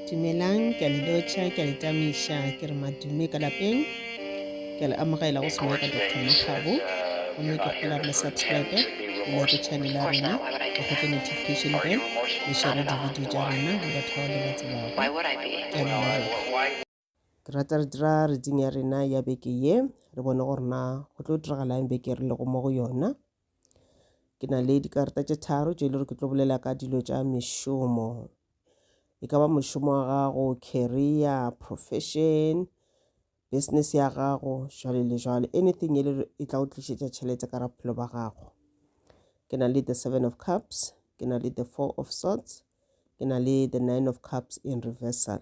Dumelang, ke a le lotšha, ke a le tamiša, ke re madume ka lapeng. Ke a le amogela go sengwe ka Dr. Makgabo. Gomme ke kgola re le subscribe, le like channel ya rena, le kgotse notification bell, le share di-video tša rena le batho bao le ba tsebago. Ke a leboga. Ke rata re dira reading ya rena ya beke ye re bone gore na go tlo diragalang beke re lego mo go yona ke na le dikarata tše tharo tše e le gore ke tlo bolela ka dilo tša mešomo e ka ba mošomo wa gago career profession business ya gago jwale le jwale anything e le e tla o tlišetša tšhelete ka raphelo ba gago ke na le the seven of cups ke na le the four of swords ke na le the nine of cups in reversal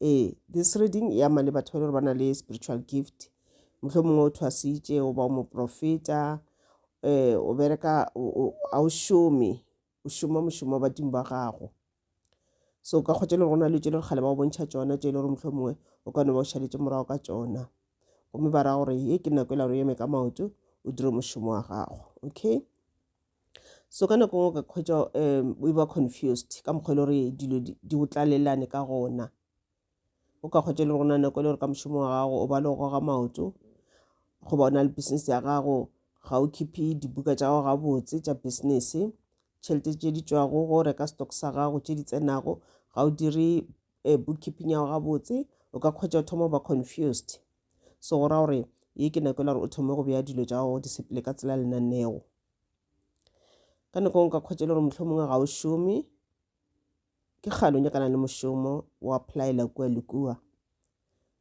ee this reading e ama le batho ba le gore ba na le spiritual gift motlho mongwe o thwasitše o ba o moprofeta eh o bereka a o šome o šoma mošomo wa badimo ba gago so ka kgotse le rona le tšele kgale ba o bontšha tšona tše e le gore motlho mongwe o ka no ba o šaletse morago ka tšona gomme ba ra gore ye ke nako e la gore o eme ka maoto o dire mošomo wa gago okay so ka nako ngwe ka khwetša um we were confused ka mokgwa e le gore dilo di di o tlalelane ka gona o ka kgwetša le gona nako e le gore ka mošomo wa gago o ba le go goga maoto goba o na le business ya gago ga o khiphe dibuka tša gago gabotse tša business tšhelete tše di tšwago go reka stock sa gago tše di tsenago ga o dire um bookkeeping ya gago gabotse o ka kgwetša o thoma go ba confused so go ra gore ye ke nako e la gore o thome go beya dilo tša gago di sepele ka tsela lenaneo ka nako e nka kgwetša e le gore motlho mongwe ga o šome ke kgale o nyakana le mošomo o applyela kua le kua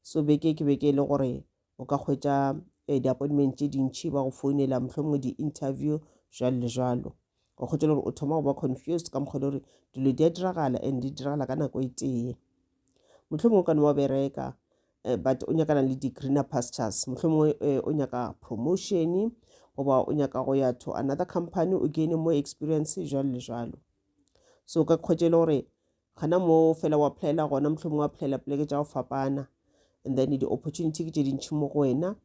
so beke ke beke e le gore o ka kgwetša um di-appointment tše dintšhi ba go founela motlho mongwe di-interview jalo le jalo o kgotse gore o thoma go ba confused ka mokgwa gore dilo di a diragala and di diragala ka nako e tee motlho mongwe ka ne wa bereka eh, but o nyakana le di-greener pastures motlho mongwe eh, o nyaka promotion goba o nyaka go ya to another company o gaine more experience jalo le jalo so ka kgwetse e le gore gana mo fela wa playela gona motlho mongwe wa playela poleke tša go fapana and then di-opportunity ke tše dintšhi mo go wena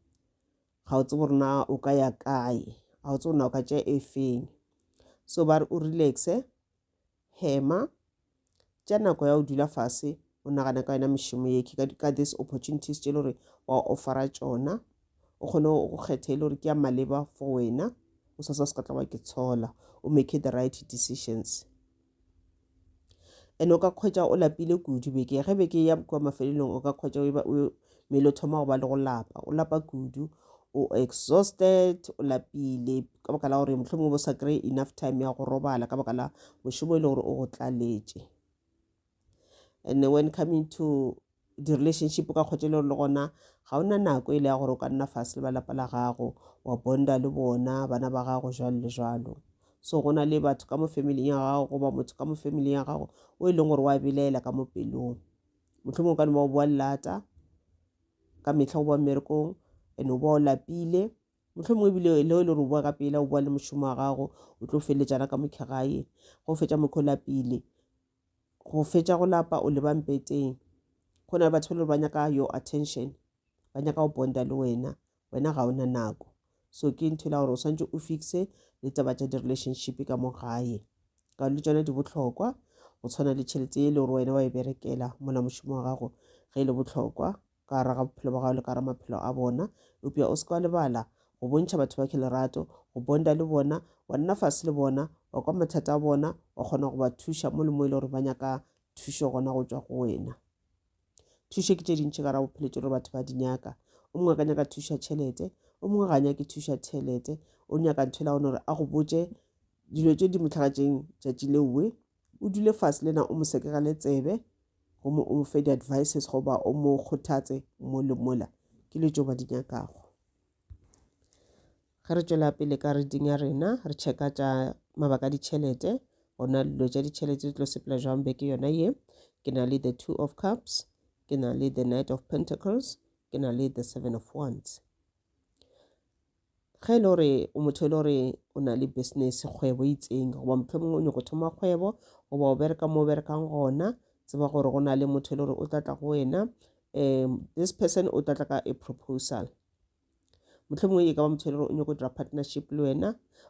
ga o tsebe gore na o ka ya kae ga o tsebe na o ka tšea e feng so ba re o relaxe hema tša nako ya o dula fase o nagana ka yona mešomo ye ka this opportunities tše le gore wa offera tšona o kgone go kgetha e le gore ke ya maleba for wena o sa sa se ka tla wa ke tshola o make the right decisions and o ka kgwetša o lapile kudu beke ge beke ya kwa mafelelong o ka kgwetša mmele o thoma go ba le go lapa o lapa kudu o exhausted o lapile ka baka la gore motlho mongwe bo sa kry enough time ya go robala ka baka la mošomo e le gore o go tlaletše and when coming to di-relationship ka kgotse le gore le gona ga o na nako e le ya gore o ka nna fase le ba lapa la gago wa bonda le bona bana ba gago jalo le jalo so go na le batho ka mo familing ya gago goba motho ka mo familing ya gago o e leng gore wa belaela ka mo pelong motlho mongwe ka ne ba o boa lata ka metlha go boa mmerekong and o boa o lapile motlho mongwe ebile le o e le gore o boa ka pela o boa le mošomo wa gago o tlo feleletsana ka mokhegae go fetsa mokgwa o lapile go fetša go lapa o leba mpeteng go na le batho ba le ba nyaka your attention ba nyaka go bonda le wena wena ga ona nako so ke ntho e la gore o swantse o fixe le taba tša di-relationship ka mo gae ka le tsona di botlhokwa go tshwana le tšhelete e le gore wena wa e berekela mola mošomo wa gago ge e le botlhokwa ka gare ga bophelo ba gago le ka gare maphelo a bona eupša o se ka wa lebala go bontšha batho ba khe lerato go bonda le bona wa nna fase le bona wa kwa mathata a bona wa kgona go ba thuša mo le mo e le gore ba nyaka thušo gona go tswa go wena thušo ke tše dintšhi ka ra bophelo tše gore batho ba di nyaka o mongwe ka nyaka thuša tšhelete o mongwe ga nyake thuša tšhelete o nyaka ntho e la gone gore a go botše dilo tše di motlhagatseng tšatši leowe o dule fase le na o mo sekegele tsebe gomme o mo fe di-advices goba o mo kgothatse mo le mola ke le tšo ba di nyakago ge re tšwela pele ka reading ya rena re checka tša mabaka a ditšhelete gona dilo tša ditšhelete di tlo sepela jwang beke yona ye ke na le the two of cups ke na le the knight of pentacles ke na le the seven of wands ge e le gore o motho e le gore o na le business kgwebo e itseng goba motlho mongwe o nyako thoma kgwebo goba o bereka mo o berekang gona tseba gore go na le motho e le gore o tlatla go wena um this person o tlatla ka a proposal motlho mongwe e ka ba motho e le gore o nyako dira partnership le wena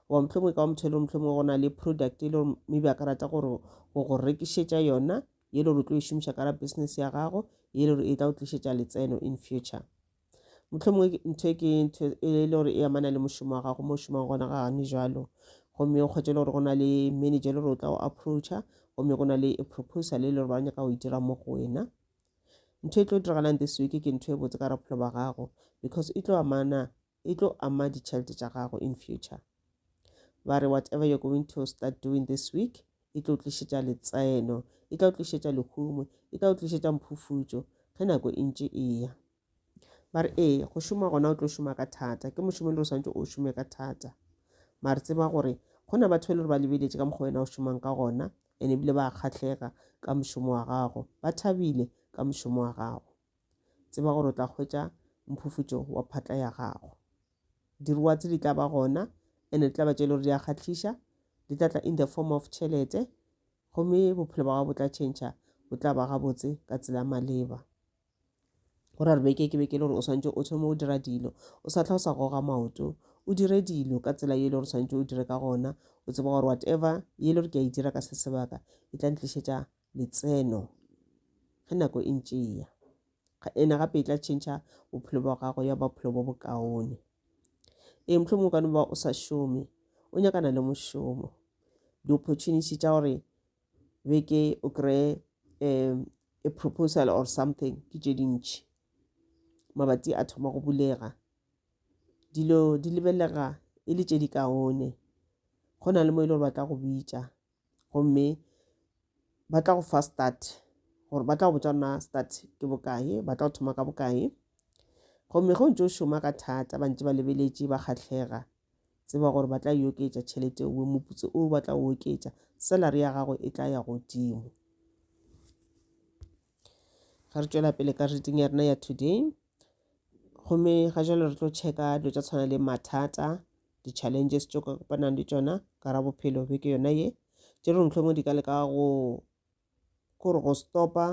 goba motlho mongwe e ka ba motho e le gore motlho mongwe go na le product e le gore maybe a ka rata gore go go rekišetša yona ye le gore o tlo e šomiša ka ra business ya gago ye le gore e tla o tlišetša letseno in future mohlomongwe ntho e ke ntho e le gore e amana le mošomo wa gago mo šomang gona ga gane jalo gomme o kgwetše le gore go na le manager e le gore o tla go approacha gomme go na le e proposal e le gore ba nyaka go itira mo go wena ntho e tlo diragalang this week ke ntho e botse ka rapholo ba gago because e tlo amana e tlo ama ditšhelete tša gago in future ba re whatever you're going to start doing this week e tlo tlišetša letseno e tla o tlišetša lehumo e tla o tlišetša mphufutšo ge nako e ntše e ya ba re ee go šoma gona o tlo šoma ka thata ke mošomo le o swanetse o šome ka thata mare tseba gore go na batho e le gore ba lebeletše ka mokgwa wena o šomang ka gona and ebile ba kgatlhega ka mošomo wa gago ba thabile ka mošomo wa gago tseba gore o tla hwetša mphufutšo wa phatla ya gago Diruwa tse di tla ba gona ene di tla ba tše e le gore di a kgatlhiša di tla tla in the form of tšhelete gomme bophelo ba gago bo tla tšhentšha bo tla ba gabotse ka tsela maleba go ra re beke ke beke le gore o swantse o thome go dira dilo o sa tlha o sa goga maoto o dire dilo ka tsela ye e le gore swantse o dire ka gona o tseba gore whatever ye e le gore ke a e dira ka se sebaka e tla ntlišetša letseno ge nako e ntše e ya ena gape e tla tšhentšha bophelo bwa gago ya bophelo bo bokaone ee mohlho mongwe kane ba o sa šome o nyakana le mošomo di-opportunity tša gore beke o kry-e um a proposal or something ke tše dintšhi mabati a thoma go bulega dilo di lebelega e le tše di kaone go na le mo e le gore ba tla go bitša gomme ba tla go fa start gore ba tla go botsa na start ke bokae ba tla go thoma ka bokae gomme ge o ntse o šoma ka thata ba ntse ba lebeletše ba kgatlhega tseba gore ba tla e oketša tšhelete owe moputso o ba tla o oketša salary ya gago e tla ya godimo ga re tšwela pele ka reading ya rena ya today gomme ga jalo re tlo checka dilo tša tshwana le mathata di-challenges tšo ka kopanang le tšona ka ra bophelo beke yona ye tše re mohlomong di ka leka go kore go stopa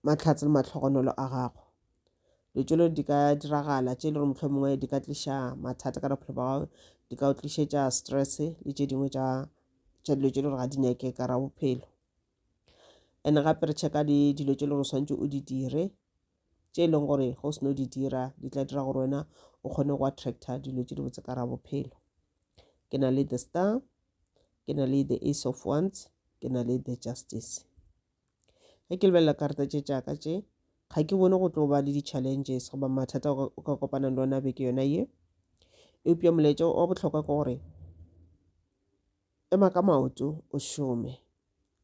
mahlatse le matlhogonolo a gago dilo di ka diragala tše e le gore mohlomongwe di ka tliša mathata ka bophelo ba gago di ka o tlišetša stress le tše dingwe tša dilo tše e le gore ga di nyake ka ra bophelo. and gape re checka le dilo tše e le gore swantse o di dire tše e leng gore go seno di dira di tla dira gore wena o kgone go attracta dilo tše di botse ka ra bophelo ke na le the star ke na le the ace of ones ke na le the justice ge ke lebelela karata tše tšaka tše ga ke bone go tlo ba le di-challenges goba mathata o ka kopanang le ona beke yona ye eupša molaetša wa bohlokwa ke gore Ema ka maoto, o šome.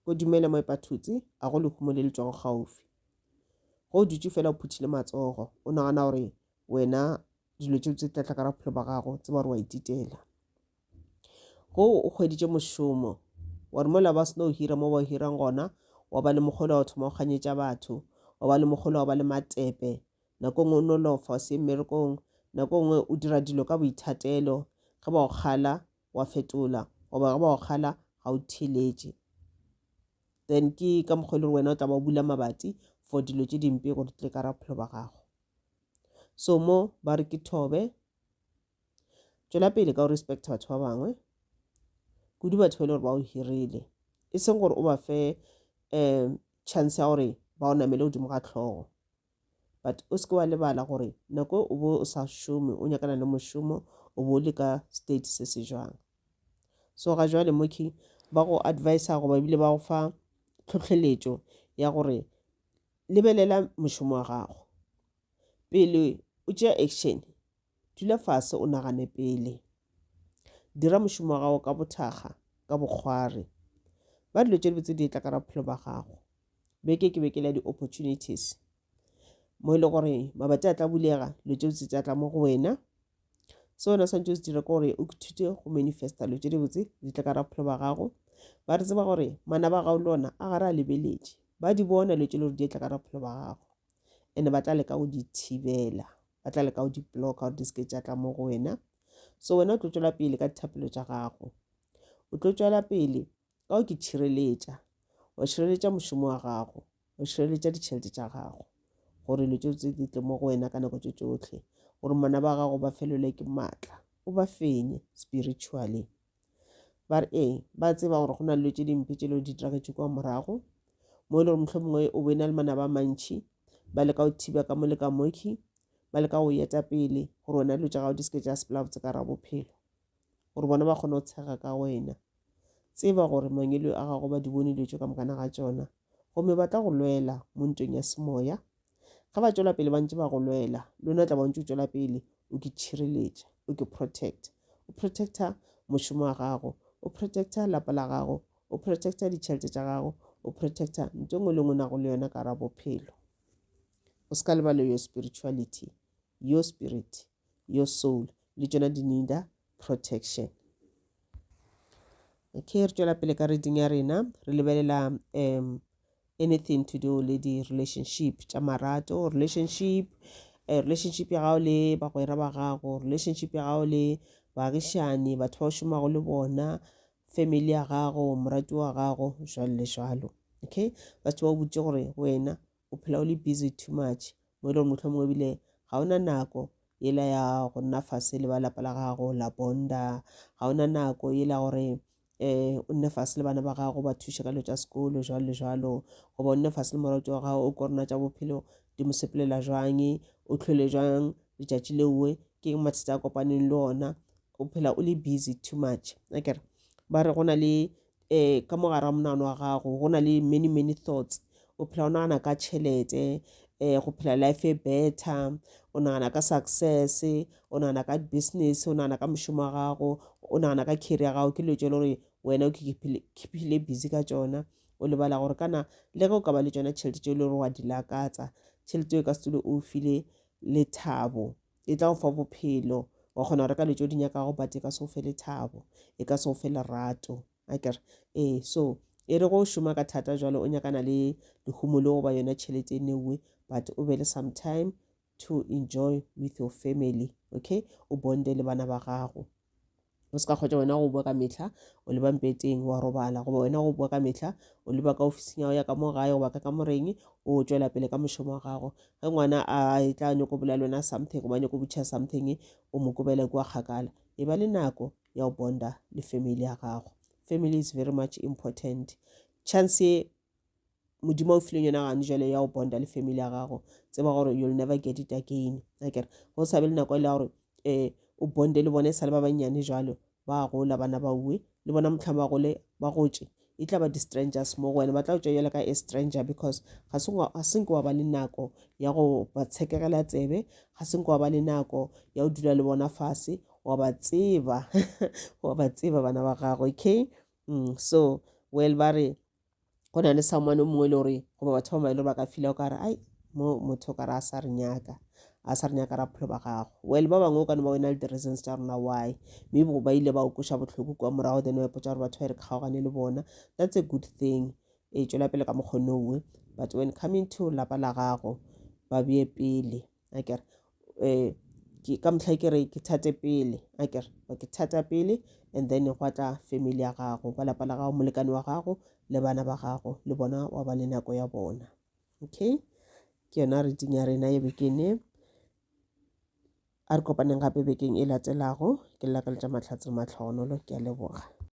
Go dumele mo epa thutse, a go lehumo le le tšwago gaufi. Ge o dutše fela o phuthile matsogo, o nagana gore wena dilo tšeo tse tlatla ka ra bophelo ba gago, tseba gore wa ititela. Go o kgweditše mošomo, wa re mola ba seno hira mo ba o hirang gona, wa ba le mogolo wa go thoma go kganyetša batho, wa ba le mogolo wa go ba le matepe, nako nngwe o nolofa o se ye mmerekong, nako nngwe o dira dilo ka boithatelo, ge ba go kgala wa fetola goba ge ba go kgala ga o theletše then ke ka mokgwa e le gore wena o tla ba o bula mabati for dilo tše dimpe gore tle ka ra bophelo ba gago so mo ba re ke thobe tšwela pele ka go respecta batho ba bangwe kudu batho ba e le gore ba o hirile e seng gore o ba fe um chance ya gore ba o namele godimo ga tlhogo but o seke wa lebala gore nako o bo o sa šome o nyakana le mošomo o bo o le ka state se se jwang so ga jwale moki ba go advisa goba ebile ba go fa tlhotlheletšo ya gore lebelela mošomo wa gago pele o tšea action Dula fase o nagane pele. Dira mošomo wa gago ka bothakga, ka bokgwari. Ba dilo tše dibotse di etla ka ra bophelo ba gago. Beke ke beke le ya di-opportunities. Mo e le gore mabati a tla bulega, dilo tše dibotse tša tla mo go wena. Se wena swantse o se dire ke gore o ithute go manifesta dilo tše dibotse di tle ka ra bophelo ba gago. Ba re tseba gore mana ba gago le ona a gare a lebeletše. Ba di bona dilo tše le gore di etla ka ra bophelo ba gago. And-e ba tla leka go di thibela. ba tla leka go di bloka gore di seke tša tla mo go wena so wena o tlo tšwela pele ka dithapelo tša gago o tlo tšwela pele ka go ke tšhireletša wa tšhireletša mošomo wa gago wa tšhireletša ditšhelete tša gago gore dilo tšeo tse di tle mo go wena ka nako tše tšotlhe gore mona ba gago ba felelwe ke maatla o ba fenye spiritually ba re ee ba tseba gore go na le tse dimpe tse le di diraketse kwa morago mo e le gore motlho mongwe o be na le mana ba mantšhi ba leka go thiba ka mo le ka moki ba leka go yeta pele gore wena dilo tsa gago di seke tsa sepelabotse ka ra bophelo gore bona ba kgone go tshega ka wena tseba gore mangelo a gago ba di bone dilo tse ka mokana ga tsona gomme ba tla go lwela mo ntweng ya semoya ge ba tšwela pele ba ntse ba go lwela le wena tla ba ntse o tšwela pele o ke tšhireletša o ke protecta o protecta mošomo wa gago o protecta lapa la gago o protecta ditšhelete tša gago o protecta ntho engwe le ngwe nago le yona ka ra bophelo o se ka lebale yo spirituality yo spirit yo soul le tšona di needa protection. Okay, re tšwela pele ka reading ya rena re lebelela um anything to do le di-relationship tša marato relationship uh, relationship ya gago le bagwera ba gago relationship ya gago le baagišani batho ba o šomago le bona family ya gago morati wa gago jalo le jalo okay batho ba o botse gore wena o phela o le busy too much mo e le gore mohlomongwe ebile ga o na nako yela ya go nna fase le ba lapa la gago la bonda ga o na nako yela gore um o nne fase le bana ba gago ba thuše ka dilo tša sekolo jalo le jalo goba o nne fase le morato wa gago o korona tša bophelo di mo sepelela jwang o tlhole jwang letšatši leoe ke eng mathata a kopaneng le ona o phela o le busy too much akere ba re go na le eh ka mo gare ga monagano wa gago go na le many many thoughts o phela o nagana ka tšhelete um go phela life e better o nagana ka success o nagana ka business o nagana ka mošomo wa gago o nagana ka carry ya gago ke leo tse le gore wena o kephile busy ka tsona o lebala gore kana le ge o ka ba le tsona tšhelete tse e le gore wa di lakatsa tšhelete e ka se tule o file lethabo e tla go fa bophelo wa kgona go reka lejo di nyakago but e ka se o fe lethabo e ka se o fe lerato a kere ee so e re go šoma ka thata jalo o nyakana le lehumo le goba yona tšhelete e newe but o be le sometime to enjoy with your family okay o bonde le bana ba gago o se ka kgwetša wena go bua ka mehla o leba mpeteng wa robala goba wena go bua ka mehla o leba ka ofising ya go ya ka mo gae goba ka ka moreng o tšwela pele ka mošomo wa gago ge ngwana a e tla nyako bolela wena something goba nyako butšha something o mo kobela kua kgakala e ba le nako ya go bonda le family ya gago family is very much important chance modimo o fileng yona gane jale ya go bonda le family ya gago tseba gore you'll never get it again akere go sa be le nako e le ya gore um o bonde le bone e sa le ba bannyane jalo ba gola bana ba uwe le bona motlhamo ba gole ba gotše e tla ba di-strangers mo go wena ba tla tšwa jalo ka a stranger because ga senke wa ba le nako ya go ba tshekegela tsebe ga senke wa ba le nako ya go dula le bona fase wa ba tseba wa ba tseba bana ba gago okay mm, so well ba re go na le someone o mongwe e le gore goba batho ba maele ba ka fila o ka re ai mo motho o ka re a sa re nyaka a sa re nyaka ra bophelo ba gago well ba bangwe o ka no ba wena le di-reasons tša rona why maybe ba ile ba o kweša bohloko kua morago then wa ipotsa gore batho ba e re kgaogane le bona that's a good thing e tšwela pele ka mokgone owe but when coming to lapa la gago ba beye pele a ke re um ke ka mohlai ke re ke thate pele a ke re ke thata pele and then gwa tla family ya gago ba lapa la gago molekane wa gago le bana ba gago le bona wa ba le nako ya bona okay ke yona reading ya rena ye bekene a re kopaneng gape bekeng e latelago ke lla ka letša mahlatse mahlohonolo ke a leboga